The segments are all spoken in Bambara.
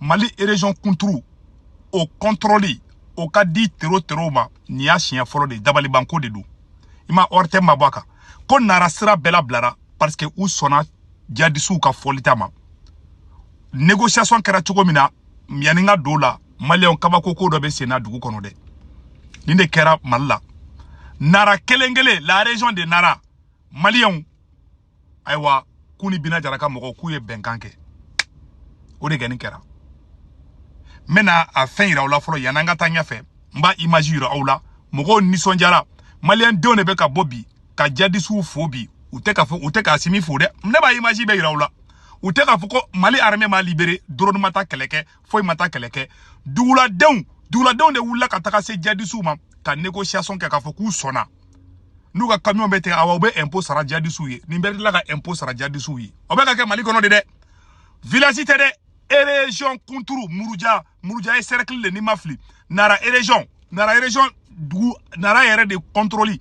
mali erezɔn kunturu o kɔntorɔli o ka di tero terow ma nin y'a siɲɛ fɔlɔ de dabalibanko de don i ma ɔri tɛ mabɔ a kan ko nara sira bɛɛ labilara parce que u sɔnna jadisiw ka fɔlita ma négociation kɛra cogo min na n y'a ɲini k'a dɔn la maliyɛnw kabako ko dɔ bɛ sen na dugu kɔnɔ dɛ nin de kɛra mali la nara kelen kelen la région de nara maliyɛnw ayiwa k'u ni bina jara ka mɔgɔw k'u ye bɛnkan kɛ o de kɔni kɛra n bɛna a fɛn yira aw la fɔlɔ yan'an ka taa ɲɛfɛ n b'a imaji yira aw la mɔgɔw nisɔndiyara maliyɛn denw de bɛ ka bɔ bi ka jadisiw fo bi u tɛ ka fɔ u tɛ k'asimi fo dɛ ne b'a imaji bɛɛ yira aw la u tɛ k'a fɔ ko mali armée m'a libéré drone ma taa kɛlɛ kɛ foyi ma taa kɛlɛ kɛ duguladenw duguladenw de wulila ka taga se jadisiw ma ka négociation kɛ k'a fɔ k'u sɔnna n'u ka kamiɔn bɛ ten awa u bɛ ɛnpo sara jadisiw ye nin bɛ tila ka ɛnpo sara jadisiw ye o bɛ ka kɛ mali kɔnɔ de dɛ vilasi tɛ dɛ erezɔn kunturu muruja muruja ye sɛrɛkili de ni n ma fili nara erezɔn nara erezɔn dugu nara yɛrɛ de kɔntoroli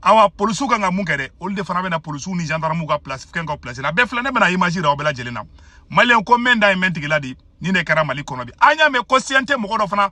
awa polisiw kan ka mun kɛ dɛ olu de fana bɛna polisiw ni zandaramuw ka plasi fɛn ka plasi la bɛɛ filɛ ne bɛna imaji yira aw bɛɛ lajɛlen na maliyɛn ko mɛn da ye mɛn tigi la de nin de kɛra mali kɔnɔ bi an y'a mɛn ko cnt mɔgɔ dɔ fana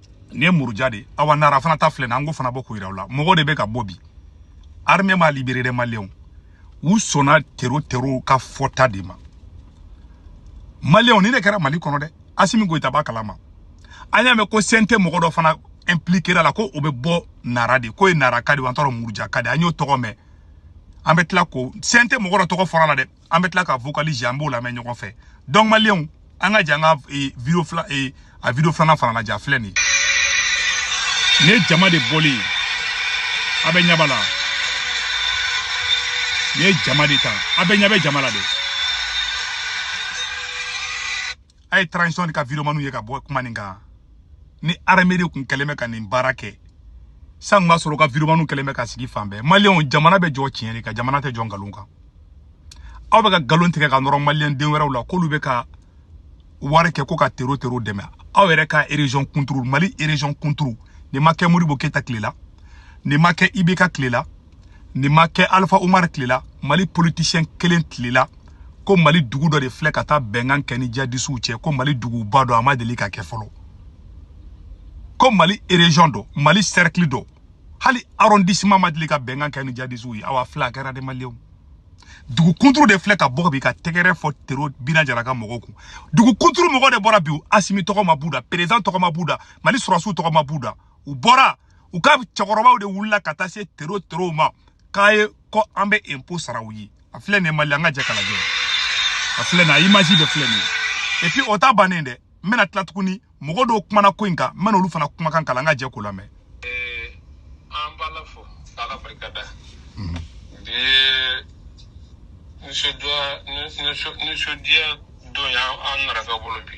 nin ye muruja de ye awa nara fana ta filɛ na an k'o fana bɔ k'o yira aw la mɔgɔ de bɛ ka bɔ bi armée m'a libéré dɛ maliyɛnw u sɔnna tero terow ka fɔta de ma maliyɛnw nin de kɛra mali kɔnɔ dɛ asimi goyita b'a kalama an y'a mɛn ko cnt mɔgɔ dɔ fana impliquera a la ko o bɛ bɔ nara de k'o ye naraka de an t'a dɔn murujaka de an y'o tɔgɔ mɛn an bɛ tila ko cnt mɔgɔ dɔ tɔgɔ fɔra a la dɛ an bɛ tila ka vocal lajɛ an b'o lamɛn ɲɔgɔn fɛ donc maliyɛnw an ka jɛ an ka e, video fila e, a video filanan fana lajɛ a filɛ nin ye nin ye jama de bɔlen ye a bɛɛ ɲɛ b'a la nin ye jama de ta a bɛɛ ɲɛ bɛ jama la de a ye transition de ka videomaniw ye ka bɔ kuma nin kan ni armée de kun kɛlen bɛ ka nin baara kɛ san b'a sɔrɔ u ka videomaniw kɛlen bɛ ka sigi fan bɛɛ maliyɛnw jamana bɛ jɔ tiɲɛ de kan jamana tɛ jɔ nkalon kan aw bɛ ka nkalon tigɛ ka nɔrɔ maliyɛn den wɛrɛw la k'olu bɛ ka wari kɛ ko ka tero tero dɛmɛ aw yɛrɛ ka erezyɔn kunturu mali erezyɔn kunturu nin ma kɛ modibo keyita tile la nin ma kɛ ibk tile la nin ma kɛ alifa umar tile la mali politisiyɛn kelen tile la ko mali dugu dɔ de filɛ ka taa bɛnkan kɛ ni jadisiw cɛ ko mali duguba dɔ a ma deli ka kɛ fɔlɔ ko mali erezɔn dɔ mali sɛrikili dɔ hali arɔndisiman ma deli ka bɛnkan kɛ ni jadisiw ye awa filɛ a kɛra dɛ maliyɛnw dugu kunturu de filɛ ka bɔ bi ka tɛgɛrɛ fɔ tero bina jara ka mɔgɔw kun dugu kunturu mɔgɔ de bɔra bi asimi tɔgɔ ma b'u da perezan tɔgɔ ma b'u da mali sɔrɔdasiw tɔgɔ ma b'u da u bɔra u ka cɛkɔrɔbaw de wulila ka taa se tero terow ma k'a ye ko an bɛ impôt sara u ye a filɛ nin ye mali an ka jɛ k'a lajɛ a filɛ nin a image de filɛ nin ye et puis o ta bannen dɛ n bɛna tila tuguni mɔgɔ dɔw kumana ko in kan n bɛna olu fana kumakan kalan an ka jɛ k'o lamɛn an b'ala fo ala barika da bi nisɔndiya nisɔndiya don y'an narakaw bolo bi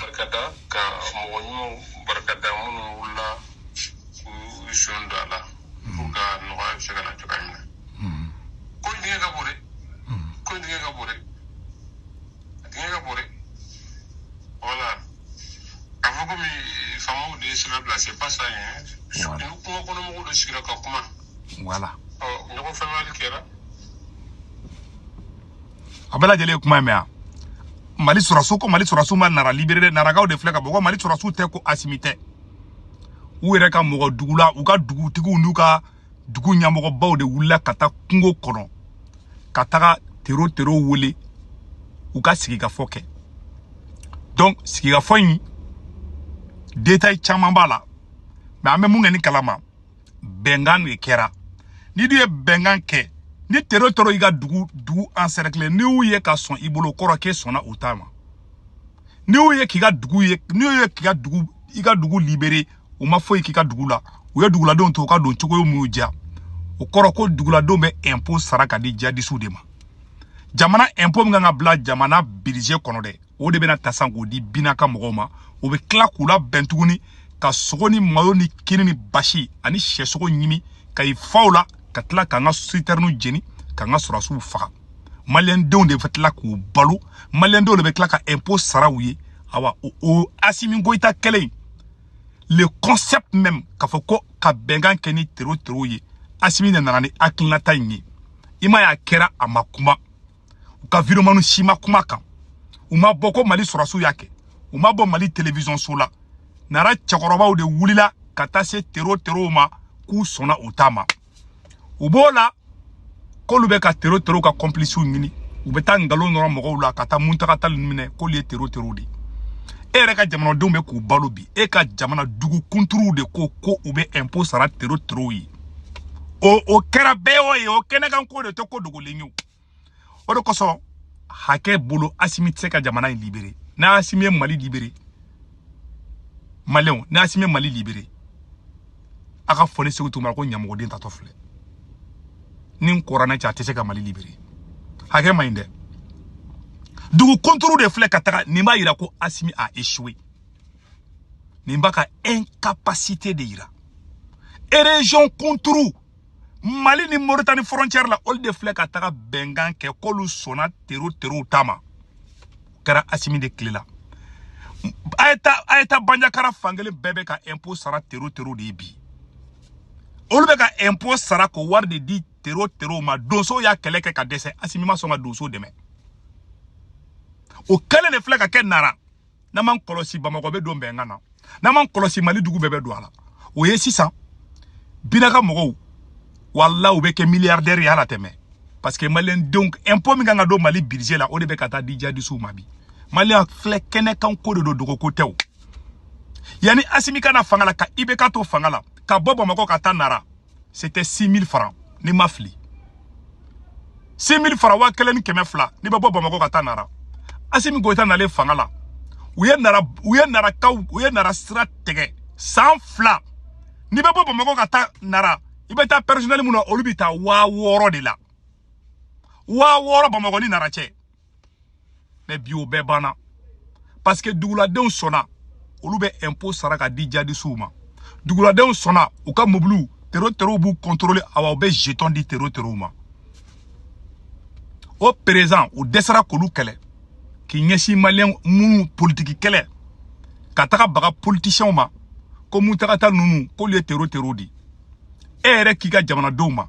barika da ka mɔgɔ ɲumanw barika da minnu wulila k'u sen don a la pour que nɔgɔya bɛ se ka na cogoya min na ko in dingɛ ka bon dɛ ko in dingɛ ka bon dɛ a dingɛ ka bon dɛ voilà k'a fɔ komi faamaw de ye sira bila c'est pas ça hein Voilà. ni kungo kɔnɔ mɔgɔw de sigira ka kuma voilà ɔ ɲɔgɔn faamuli kɛra a bɛɛ lajɛlen ye kuma in mɛn yan mali sɔrɔsiw ko mali sɔrɔsiw ma nara libere narakaw de filɛ ka bɔ ko mali sɔrɔsiw tɛ ko asimi tɛ u yɛrɛ ka mɔgɔ dugu la u ka dugutigiw n'u ka dugu ɲɛmɔgɔbaw de wulila ka taa kungo kɔnɔ ka taga tero terow wele u ka sigikafɔ kɛ donc sigikafɔ in détail caman b'a la mais an bɛ min kɛlen kalama bɛnkan de kɛra n'i dun ye bɛnkan kɛ ni tero terow y'i ka dugu encerclé n'i y'u ye ka sɔn i bolo o kɔrɔ k'e sɔnna u ta ma n'i y'u ye k'i ka dugu ye n'i y'u ye k'i ka dugu i ka dugu libere u ma foyi k'i ka dugu la u ye duguladenw to u ka don cogoya min y'u diya o kɔrɔ ko duguladenw bɛ impôt sara ka di jadisiw de ma jamana impôt min ka kan ka bila jamana budget kɔnɔ dɛ o de bɛna ta san k'o di bina ka mɔgɔw ma o bɛ tila k'u labɛn tuguni ka sogo ni malo ni kini ni basi ani syɛsogo ɲimi ka i faw la ka tila k'an ka sitɛriniw jeni k'an ka sɔrɔdasiw faga maliyɛndenw de bɛ tila k'u balo maliyɛndenw de bɛ tila ka impôt sara u ye awa o o asimi goyita kɛlen in le concept même k'a fɔ ko ka bɛnkan kɛ ni tero terow ye asimi de nana ni hakilinata in ye i m'a ye a kɛra a ma kuma u ka videomanw si ma kuma kan u ma bɔ ko mali sɔrɔsiw y'a kɛ u ma bɔ mali television so la nara cɛkɔrɔbaw de wulila ka taa se tero terow ma k'u sɔnna u ta ma u b'o la k'olu bɛ ka tero terow ka kɔnpilisiw ɲini u bɛ taa nkalon nɔrɔ mɔgɔw la ka taa muntaga tali ninnu minɛ k'olu ye tero terow de e yɛrɛ ka jamanadenw bɛ k'u balo bi e ka jamana dugu kunturuw de ko ko u bɛ impôt sara tero terow ye o o kɛra bɛɛ y'o ye o kɛnɛkan ko de tɛ ko dogolen ye o o de kosɔn hakɛ bolo asimi tɛ se ka jamana in libere n'asimi ye mali libere maliyɛnw n'asimi ye mali libere a k'a fɔ ne seku tunkara ko ɲamɔgɔden taatɔ filɛ ni n kɔrɔ ne cɛ a tɛ se ka mali libere hakɛ man ɲi dɛ dugu kunturu de filɛ ka taga nin b'a yira ko asimi a échoué nin b'a ka incapacité de yira région kunturu mali ni moritani frontière la olu de filɛ ka taga bɛnkan kɛ k'olu sɔnna tero terow ta ma o kɛra asimi de tile la a ye taa a ye taa banjagara fankelen bɛɛ bɛ ka impôt sara tero terow de ye bi olu bɛ ka impôt sara k'o wari de di tero terow ma donsow y'a kɛlɛ kɛ ka dɛsɛ asimi ma sɔn ka donsow dɛmɛ o kɛlen de filɛ ka kɛ nara n'an m'an kɔlɔsi bamakɔ bɛ don bɛnkan na n'an m'an kɔlɔsi mali dugu bɛɛ bɛ don a la o ye sisan bina ka mɔgɔw wala u bɛ kɛ miliyardɛri ye à long terme parce que maliyɛndenw impôt min kan ka don mali budget la o de bɛ ka taa di jadisiw ma bi maliyɛn filɛ kɛnɛkan ko de don dogo ko tɛ o yanni asimi ka na fanga la ka ibk to fanga la ka bɔ bamakɔ ka taa nara c'était 6000 francs ni n ma fili 6000 francs waa kelen ni kɛmɛ fila n'i bɛ bɔ bamakɔ ka taa nara asimi goyita nalen fanga la u ye nara u ye narakaw u ye nara sira tigɛ san fila n'i bɛ bɔ bamakɔ ka taa nara i bɛ taa pɛrisonɛli mun na olu bɛ taa waa wɔɔrɔ de la waa wɔɔrɔ bamakɔ ni nara cɛ mais bi o bɛɛ banna parce que duguladenw sɔnna olu bɛ impôt sara ka di jadisiw ma duguladenw sɔnna u ka mobiliw tero terow b'u contrôler awa u bɛ jeton di tero terow ma o président u dɛsɛra k'olu kɛlɛ k'i ɲɛsin maliyɛn minnu politiki kɛlɛ ka taga baga politisiyɛnw ma ko muntaga tal ninnu k'olu ye tero terow di e yɛrɛ k'i ka jamanadenw ma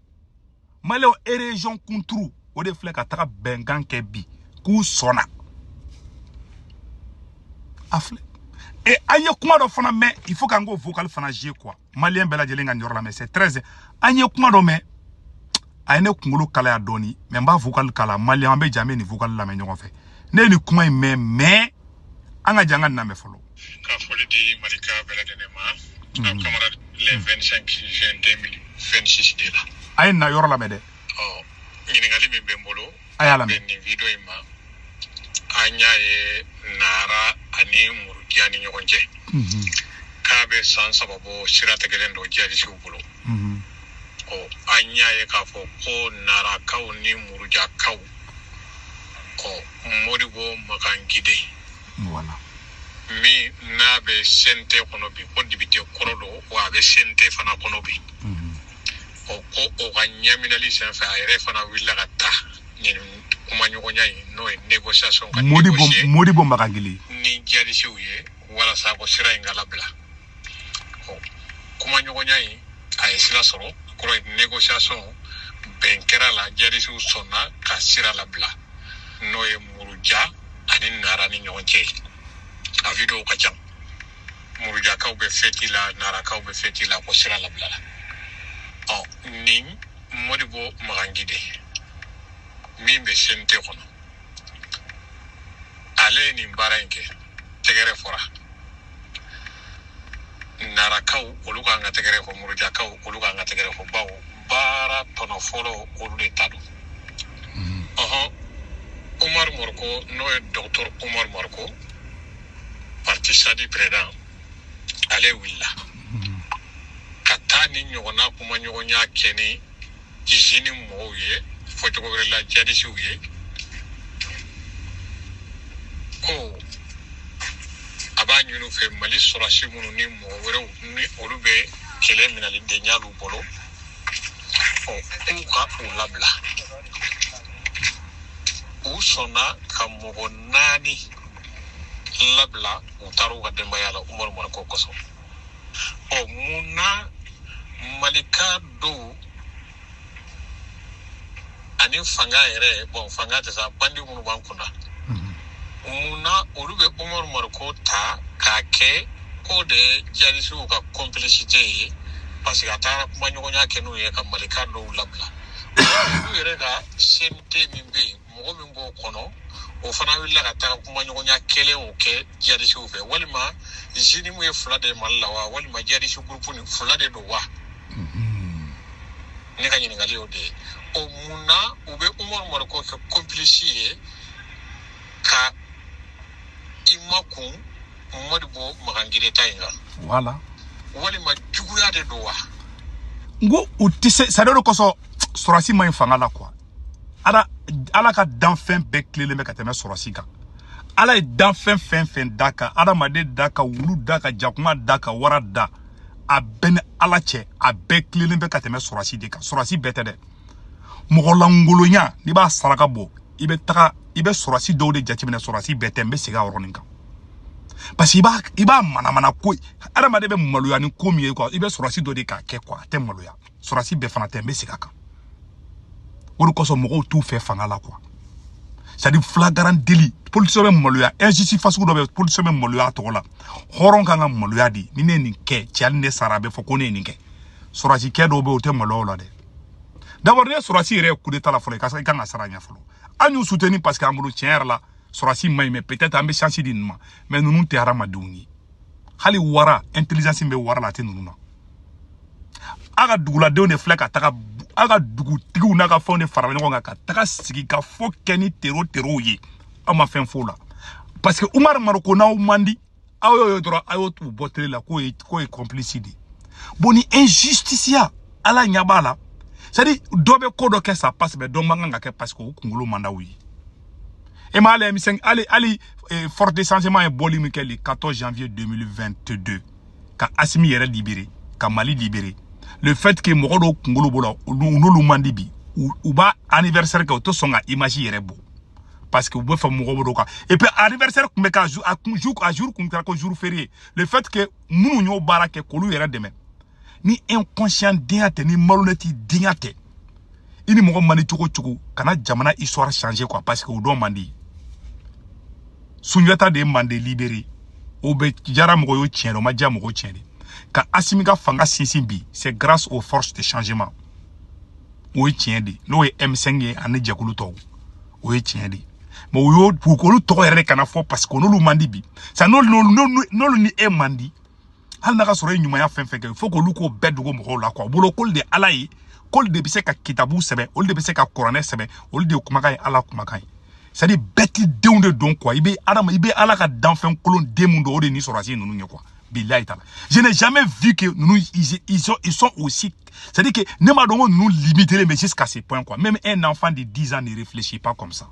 maliyɛnw région kunturu o de filɛ ka taga bɛnkan kɛ bi k'u sɔnna a filɛ e an ye kuma dɔ fana mɛn il faut k'an k'o vocal fana jouer quoi maliyɛn bɛɛ lajɛlen ka nin yɔrɔ lamɛn c'est très an ye kuma dɔ mɛn a ye ne kunkolo kalaya dɔɔni mais n b'a vocal kala maliyɛn an bɛ jɛ an bɛ nin vocal lamɛn ɲɔgɔn fɛ ne ye nin kuma in mɛn mais an ka jɛ an ka nin lamɛn fɔlɔ Ka foli di Malikaw bɛɛ lajɛlen ma. Unhun. An camarade le 25 juin 2026 de la. A ye nin yɔrɔ lamɛn dɛ. Ɔ ɲininkali min bɛ n bolo. A y'a lamɛn. Nin video in ma. An y'a ye Nara ani Muruja ni ɲɔgɔn cɛ. Unhun. K'a bɛ san saba bɔ sira tigɛlen don jihadisiw bolo. Unhun. Ɔ an y'a ye k'a fɔ ko Narakaw ni Murujakaw. Ko Modibo Magangili. voilà min n'a bɛ cnt kɔnɔ bi ko depite kɔrɔ don wa a bɛ cnt fana kɔnɔ bi ɔ ko o ka ɲɛminɛli senfɛ a yɛrɛ fana wulila ka taa nin kumaɲɔgɔnya in n'o ye négociation kɛ modibo magangili ni jadisiw ye walasa ko sira in ka labila kumaɲɔgɔnya in a ye sira sɔrɔ kɔrɔ ye négociation bɛn kɛra la jadisiw sɔnna ka sira labila n'o ye muruja ani nara ni ɲɔgɔn cɛ ye a videow ka ca murujakaw bɛ feti la narakaw bɛ feti la ko sira labilala ɔ ni mɔdibɔ magangide min bɛ cnt kɔnɔ ale ye nin baara in kɛ tɛgɛrɛ fɔra narakaw olu ka kan ka tɛgɛrɛ fɔ murujakaw olu ka kan ka tɛgɛrɛ fɔ bawo baara tɔnɔ fɔlɔ olu de ta don ɔhɔn umar mariko n'o ye dɔgɔtɔr umar mariko parti sadi président ale wulila ka taa nin ɲɔgɔnna kumaɲɔgɔnya kɛ ni jnim mɔgɔw ye fɔcogo wɛrɛ la jadisiw ye ko a b'a ɲini u fɛ mali sɔrɔsi minnu ni mɔgɔ wɛrɛw ni olu bɛ kɛlɛ minɛlen de y'alu bolo ɔ k'u ka u labila u sɔnna ka mɔgɔ naani labila u taara u ka denbaya la umaru mariko kosɔn ɔ mun na malika dɔw ani fanga yɛrɛ bon fanga tɛ sa bandi minnu b'an kunna mhm. mun na olu bɛ umaru mariko ta k'a kɛ ko de jadisiw ka kɔnpilisite ye parce que a taara kumaɲɔgɔnya kɛ n'u ye ka malika dɔw labila olu yɛrɛ ka cnt min bɛ yen mɔgɔ min b'o kɔnɔ o fana wulila ka taa kumaɲɔgɔnya kelen o kɛ jadisiw fɛ walima jnim ye fila de mali la wa walima jadisi gurupu ni fila de don wa mm-hmm. ne ka ɲininkali y'o de ye o mun na u bɛ umaru mariko kɛ kɔnpilisi ye ka i makun mɔdibɔ magangire ta in kan voilà walima juguya de don wa n ko u tɛ se sa dɛ o de kosɔn sɔrɔsi man ɲi fanga la quoi ala ala ka danfɛn bɛɛ tilelen bɛ ka tɛmɛ sɔrɔsi kan ala ye danfɛn fɛn fɛn da ka adamaden da ka wulu da ka jakuma da ka wara da a bɛɛ ni ala cɛ a bɛɛ tilelen bɛ ka tɛmɛ sɔrɔsi de kan sɔrɔsi bɛɛ tɛ dɛ mɔgɔ lankolonya n'i b'a saraka bɔ i bɛ taga i bɛ sɔrɔsi dɔw de jateminɛ sɔrɔsi bɛɛ tɛ n bɛ segin a yɔrɔnin kan parce que i b'a i b'a manamana ko adamaden bɛ maloya ni ko min ye quoi i bɛ sɔrɔsi dɔ de k'a kɛ quoi a tɛ maloya sɔrɔdasi bɛɛ fana tɛ n bɛ segin a kan o de kosɔn mɔgɔw t'u fɛ fanga la quoi c'est-à-dire flagrant délit politisiyɛn bɛ maloya injustice fasugu dɔ bɛ politisiyɛn bɛ maloya a tɔgɔ la hɔrɔn ka kan ka maloya dɛ ni ne ye nin kɛ cɛ hali ne sara a bɛ fɔ ko ne ye nin kɛ sɔrɔdasikɛ dɔw bɛ yen o tɛ maloya o la dɛ d'abord ne sɔrɔdasi yɛrɛ ye kudeta la fɔlɔ i ka i kan ka sara ɲɛ fɔlɔ an y'u soutenir parce que an bolo tiɲɛ yɛrɛ la sɔrɔdasi man ɲi mais peut-être an bɛ chance di ninnu ma mais ninnu tɛ hadamadenw ye hali wara intelligence bɛ wara la a tɛ ninnu na a ka duguladenw de filɛ ka taga a ka dugutigiw n'a ka fɛnw de fara ɲɔgɔn kan ka taga sigikafɔ kɛ ni tero terow ye aw ma fɛn f'o la parce que umaru mariko n'aw man di aw y'o ye dɔrɔn a y'o t'u bɔ tele la k'o ye k'o ye complice de ye bon nin injusticiya ala ɲɛ b'a la c'est à dire dɔ bɛ ko dɔ kɛ ça passe mais dɔ man kan k'a kɛ parce que o kunkolo man d'aw ye e m'a lajɛ misali hali eh, forces de changement ye bɔli min kɛ le 14 janvier 2022 ka asimi yɛrɛ libere ka mali libere le fait que mɔgɔ dɔw kunkolo b'o la n'olu man di bi u b'a anniversaire kɛ u tɛ sɔn ka image yɛrɛ bɔ parce que u bɛ fɛ mɔgɔ bɛ dɔ kan et puis anniversaire tun bɛ ka a kun jour a jour kun kɛra ko jour férié le fait que minnu y'o baara kɛ k'olu yɛrɛ dɛmɛ ni inconscient denya tɛ ni malhonnête denya tɛ i ni mɔgɔ man di cogo o cogo kana jamana histoire changer quoi parce que dɔ man di sunjata de ye mande libéré o bɛ diyara mɔgɔ y'o tiɲɛ de o ma diya mɔgɔw tiɲɛ de ka asimi ka fanga sinsin bi c'est grâce aux forces de changement o ye tiɲɛ de n'o ye m5 ye ani jɛkulu tɔw o ye tiɲɛ de mais o y'o k'olu tɔgɔ yɛrɛ de kana fɔ parce que n'olu man di bi sa n'olu ni e man di hali n'a k'a sɔrɔ ye ɲumanya fɛn o fɛn kɛ il faut k'olu k'o bɛɛ dogo mɔgɔw la quoi u bolo k'olu de ala ye k'olu de bɛ se ka kitabu sɛbɛn olu de bɛ se ka kuranɛ sɛbɛn olu de kumakan ye ala kumakan ye c'est à dire bête denw de don quoi i bɛ adama i bɛ ala ka danfɛn kolon den min dɔn o de ni sɔrɔdasi ninnu ye quoi bilayi taala je n'ai jamais vu que ninnu ils, ils, sont, ils sont aussi c'est à dire que ne m'a dɔn ko ninnu limitelen bɛ jusqu'à ce point quoi même un enfant de 10 ans ne réfléchit pas comme ça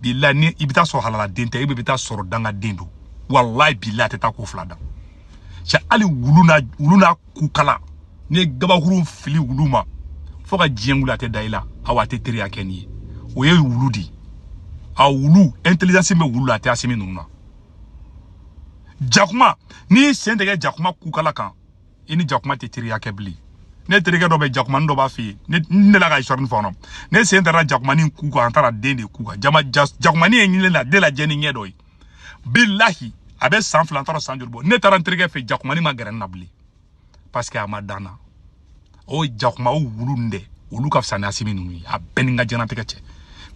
bilahi ni i bɛ t'a sɔrɔ halaladen tɛ i bɛ t'a sɔrɔ dangaden don walayi bilahi a tɛ taa ko fila dan cɛ hali wulu n'a wulu n'a kukala n'i ye gabakurun fili wulu ma fo ka diɲɛ wuli a tɛ da i la awa a tɛ teriya kɛ n'i ye o ye wulu de ye a wulu intelligence bɛ wulu la a tɛ asimi ninnu na jakuma n'i y'i sen digi jakuma kukala kan i ni jakuma tɛ teriya kɛ bilen ne terikɛ dɔ bɛ jakumani dɔ b'a fɛ yen ne n delila ka histoire fɔ nɔ ne sen dara jakumani ku kan an taara den de ku kan jama jakumani ye ɲinile la de lajɛ ni ɲɛ dɔ ye bilahi a bɛ san fila n taara san joli bɔ ne taara n terikɛ fɛ jakumani ma gɛrɛ n na bilen parce que a ma da n na o jakuma o wulu nin dɛ olu ka fisa ni asimi ninnu ye a bɛ n ni n ka diɲɛnatigɛ cɛ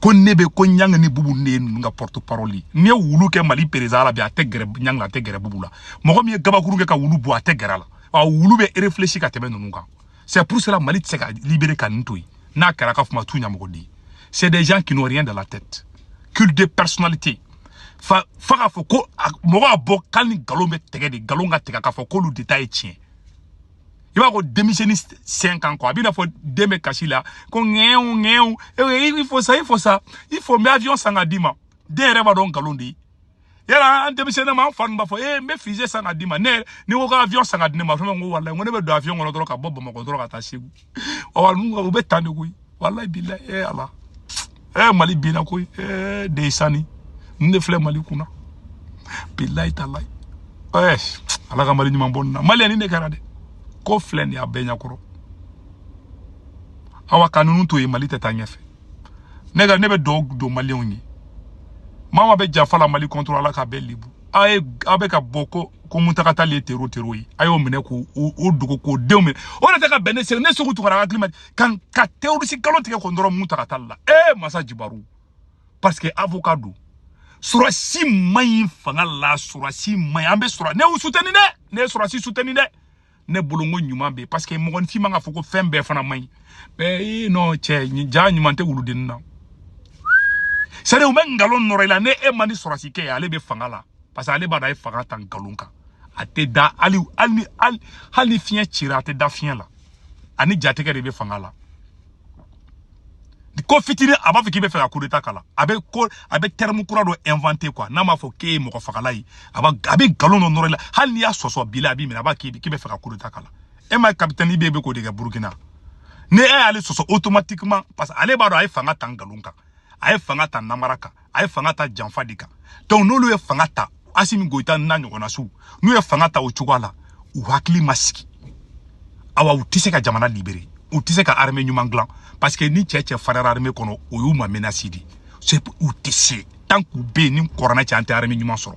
ko ne bɛ ko ɲangi ni bubu de ye ninnu ka porte parole ye ni wulu kɛ mali perezidan la bi a tɛ gɛrɛ ɲangi la a tɛ gɛrɛ bubu la mɔgɔ min ye gabakuru kɛ ka wulu bon a tɛ gɛrɛ a la wa wulu bɛ réfléchi ka tɛmɛ ninnu kan c'est pour cela mali tɛ se ka libéré ka nin to yen n'a kɛra ka fuma tu ɲamɔgɔ di c'est des gens qui n'ont rien dans la tête culte de personnalité fa fa k'a fɔ ko mɔgɔ a bɔ k'ali ni nkalon bɛ tigɛ de nkalon ka tigɛ k'a fɔ k'olu de ta ye tiɲɛ i b'a ko denmisɛnni sen kan quoi a b'i n'a fɔ den bɛ kasi la ko ŋɛɛw ŋɛɛw i fo sa i fo sa i fo n bɛ avion san ka d'i ma den yɛrɛ b'a dɔn nkalon de ye yala an denmisɛnninma an fa b'a fɔ ee n bɛ fusée san ka d'i ma ne ni ko ka avion san ka di ne ma fɛn ko walayi ko ne bɛ don avion kɔnɔ dɔrɔn ka bɔ bamakɔ dɔrɔn ka taa segu ɔ u bɛ tan de koyi walayi bilayi eh, ala e eh, mali binna koyi e eh, de sani n de filɛ mali kunna bilayi talayi ɛ ala ka mali ɲuman bɔ nin na mali ni ne kɛra dɛ ko filɛ nin y'a bɛɛ ɲɛkɔrɔ awa ka ninnu to yen mali tɛ taa ɲɛfɛ ne ka ne bɛ dugawu don maliyɛnw ye maa o maa bɛ janfa la mali contre ala k'a bɛɛ lebu a ye a bɛ ka bɔ ko ko muntaga tali ye tero tero ye a y'o minɛ k'o o dogo k'o denw minɛ o de tɛ ka bɛn ne seku ne seku tunkara hakili man kan ka terroriste nkalon tigɛ k'o nɔrɔ muntaga tali la ee masa jibaru parce que avocat don surasi man ɲi fanga la surasi man ɲi an bɛ sura ne y'u sutɛni dɛ ne ye surasi sutɛni dɛ ne bolo n ko ɲuman bɛ yen parce que mɔgɔninfin man ka fɔ ko fɛn bɛɛ fana man ɲi mɛ ee nɔ cɛ ja ɲuman tɛ wuludenni na sari u bɛ nkalon nɔrɔ i la ni e man di surasi kɛ ye ale bɛ fanga la parce que ale b'a dɔn a ye fanga ta nkalon kan a tɛ da hali hali hali ni fiɲɛ cira a tɛ da fiɲɛ la ani jatigɛ de bɛ fanga la ko fitini a b'a fɔ k'i b'a fɛ ka kudeta k'a la a bɛ ko a bɛ terme kura dɔ inventer quoi n'a m'a fɔ k'e ye mɔgɔ fagala ye a b'a a bɛ nkalon dɔ nɔrɔ i la hali n'i y'a sɔsɔ bi la a b'i minɛ a b'a k'i k'i b'a fɛ ka kudeta k'a la e m'a ye capitaine IB bɛ k'o de kɛ Burkina ni e y'ale sɔsɔ automatiquement parce que ale b'a dɔn a ye fanga ta nkalon kan a ye fanga ta namara kan a ye fanga ta janfa de kan donc n'olu ye fanga ta asimi goyita n'a ɲɔgɔnna suw n'u ye fanga ta o cogoya la u hakili ma sigi awa u tɛ se ka jamana libere u tɛ se ka armée ɲuman dilan parce que ni cɛ cɛfariyara armée kɔnɔ o y'u ma menace de ye u tɛ se tant k'u bɛ yen ni kɔrɔna cɛ an tɛ armée ɲuman sɔrɔ